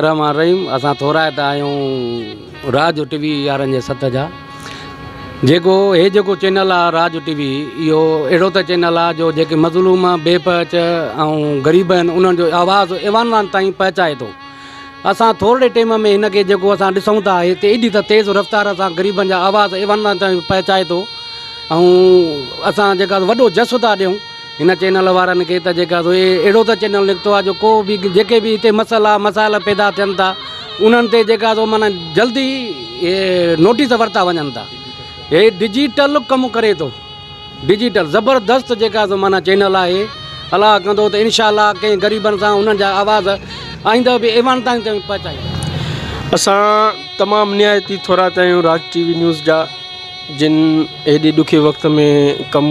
رحمان الرحيم اسان ٿورائتا آهيون راڄ ٽي وي يارن جي سٿ جا جيڪو هي جيڪو چينل آ راڄ ٽي وي اهو اهڙو ته چينل آ جو جيڪي مظلوم بي پهچ ۽ غريب آهن انهن جو آواز ايوان وان تائين پهچائي ٿو اسان ٿورڙي ٽيم ۾ هن کي جيڪو اسان ڏسون ٿا هي ته ايڏي ته تيز رفتار سان غريبن جا آواز ايوان وان تائين پهچائي ٿو ۽ اسان جيڪا وڏو جس ٿا ڏيون هن چينل وارن کي ته جيڪا سو اهڙو ته چينل نڪتو آهي جو ڪو به جيڪي به هتي مسئلا مسائل پيدا ٿين ٿا انهن تي جيڪا سو معنيٰ جلدي نوٽيس ورتا وڃن ٿا هي ڊجيٽل ڪم ڪري ٿو ڊجيٽل زبردست جيڪا سو معنيٰ چينل آهي الله ڪندو ته انشاء الله ڪنهن غريبن سان انهن جا آواز آئينده به ايوان تائين تائين پهچائي اسان تمام نهايت ئي ٿورا ته آهيون راج ٽي وي نيوز جا جن هيڏي ڏکي وقت ۾ ڪم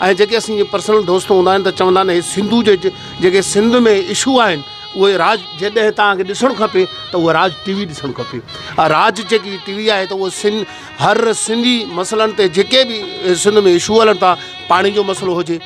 ۽ جيڪي اسين جي پرسنل دوست هوندا آهن ته چوندا آهن هي سنڌو جي جيڪي سنڌ ۾ اشو آهن اهي راج جڏهن توهان کي ڏسڻ کپي ته اهو راج ٽي وي ڏسڻ کپي راج جيڪي ٽي وي آهي ته اهو سن هر سنڌي مسئلن تي جيڪي به سنڌ ۾ اشو هلن ٿا پاڻي جو مسئلو هجي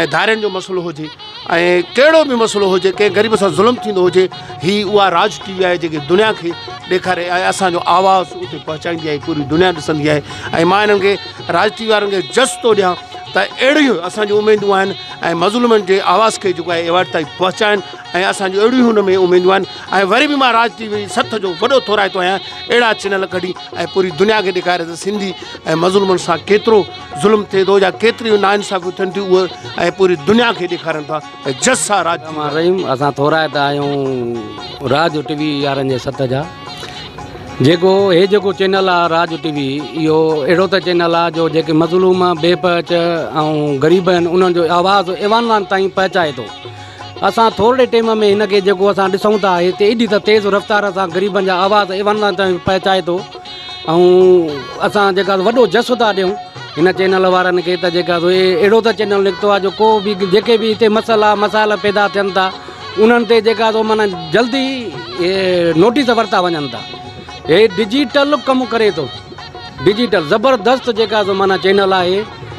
۽ ڌارين جو مسئلو هجي ۽ ڪهڙو به مسئلو هجي ڪنهن غريب سان ظلم ٿيندو هجي هي اها راج ٽي وي آهي جيڪي دنيا کي ڏيکاري ۽ اسان جو آواز اتي پهچائيندي آهي پوري دنيا ڏسندي آهي ۽ مان انهن کي راج ٽي وي وارن کي جس ٿو ڏيان ته اهڙيون اسان جون اميدون آهن ۽ مظلومن جي آواز کي جيڪو آهي ايوارڊ تائين پهچائن ۽ اسان جون اهڙيون هن ۾ اميدون آهن ۽ وري به مان راج ٽي وي سٿ جو وڏو ٿورائتو آهيان اهڙا چينل ڪڍي ۽ پوري دنيا کي ڏيکاري ته سنڌي ۽ مظلومن سان ڪيترو ظلم ٿئي ٿو يا ڪيتريون نا انصافيون ٿين ٿيون اهي ۽ پوري دنيا کي ڏيکارن ٿا ته جس سان راڄ ٿيندو آهي. رحيم اسان ٿورائتا آهيون راڄ ٽي وي يارن جي ست جا جيڪو هي جيڪو چينل آهي راڄ ٽي وي اهو اهڙو ته چينل آهي جو جيڪي مظلوم بي پهچ ۽ غريب آهن انهن جو آواز ايوان وان تائين پهچائي ٿو اسان ٿورڙي ٽيم ۾ هن کي جيڪو اسان ڏسون ٿا هتي ايڏي ته تيز رفتار سان غريبن جا آواز ايوان وان تائين پهچائي ٿو ۽ اسان جيڪا وڏو جس ٿا ڏيون هن چينل وارن کي ته جيڪا سو اهڙو ته چينل نڪتو آهي جو ڪو به جيڪي به هتي مسئلا مسائل پيدا ٿين ٿا انهن تي جيڪا سو مانا جلدي نوٽيس ورتا وڃن ٿا هي ڊجيٽل ڪم ڪري ٿو ڊجيٽل زبردست جيڪا سو مانا چينل آهي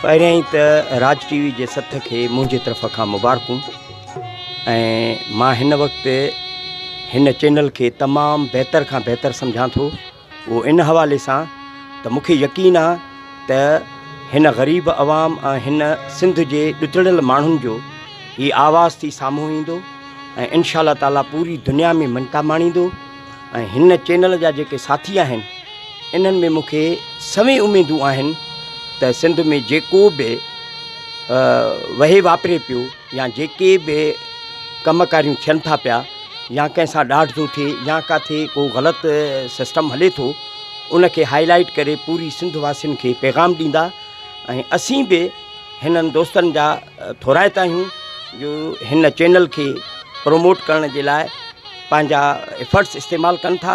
پهريائين ته راج ٽي وي جي سٿ کي منهنجي طرف کان مبارڪون ۽ مان هن وقت هن چينل کي تمام بهتر کان بهتر سمجهان ٿو اهو ان حوالي سان ته مون کي يقين آ ته هن غريب عوام ۽ هن سنڌ جي ڏتڙيل ماڻهن جو هي آواز ٿي سامهون ايندو ۽ انشاء الله تعاليٰ پوري دنيا ۾ مڃتا ماڻيندو ۽ هن چينل جا جيڪي ساٿي آهن انهن ۾ مون کي سوين اميدون آهن ته سنڌ ۾ جيڪو به وهي واپري پيو يا جيڪي به ڪم ڪاريون ٿين ٿا پيا يا ڪنهن سان ڏاڍ ٿو ٿئي يا ڪاٿي ڪو غلط سسٽم هلي ٿو ان کي هائي لائيٽ ڪري پوري سنڌ واسين کي پيغام ڏيندا ۽ اسين به هنن دوستن جا ٿورائتا آهيون جو هن چينل کي پروموٽ ڪرڻ جي لاء پنهنجا افرٽس استعمال ڪن ٿا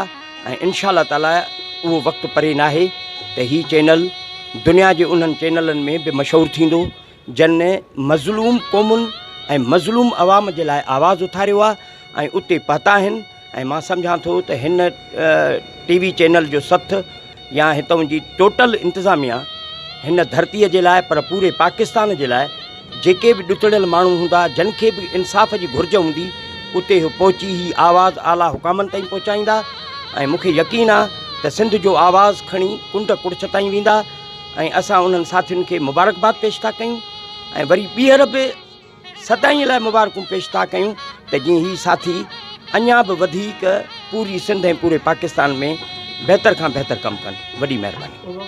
۽ انشاء الله تعالٰي اهو وقت پري نه آهي ته هي چينل دنيا جي انهن چينلن ۾ به مشهور ٿيندو جن مظلوم قومن ۽ مظلوم عوام جي لاء آواز اٿاريو آهي ۽ اتي پهتا آهن ۽ مان سمجهان ٿو ته هن ٽي وي چينل جو سٿ يا هتئون جي ٽوٽل انتظاميا هن ڌرتي جي لاء پر پوري پاڪستان جي لاء جيڪي به ڏتڙيل ماڻهو هوندا جن کي به انصاف جي گهرج هوندي اتي هو پهچي هي آواز اعليٰ حڪامن تائين پهچائيندا ۽ مون کي يقين آ ته سنڌ جو آواز کڻي ڪنڊ ڪڙڇ تائين ويندا ۽ اسان انهن ساٿين کي مبارڪباد پيش ٿا ڪيون ۽ وري ٻيهر به سدائين لاء مبارڪون پيش ٿا ڪيون ته جيئن هي ساٿي اڃا به وڌيڪ پوري سنڌ ۽ پوري پاڪستان ۾ بهتر کان بهتر ڪم ڪن وڏي مهرباني.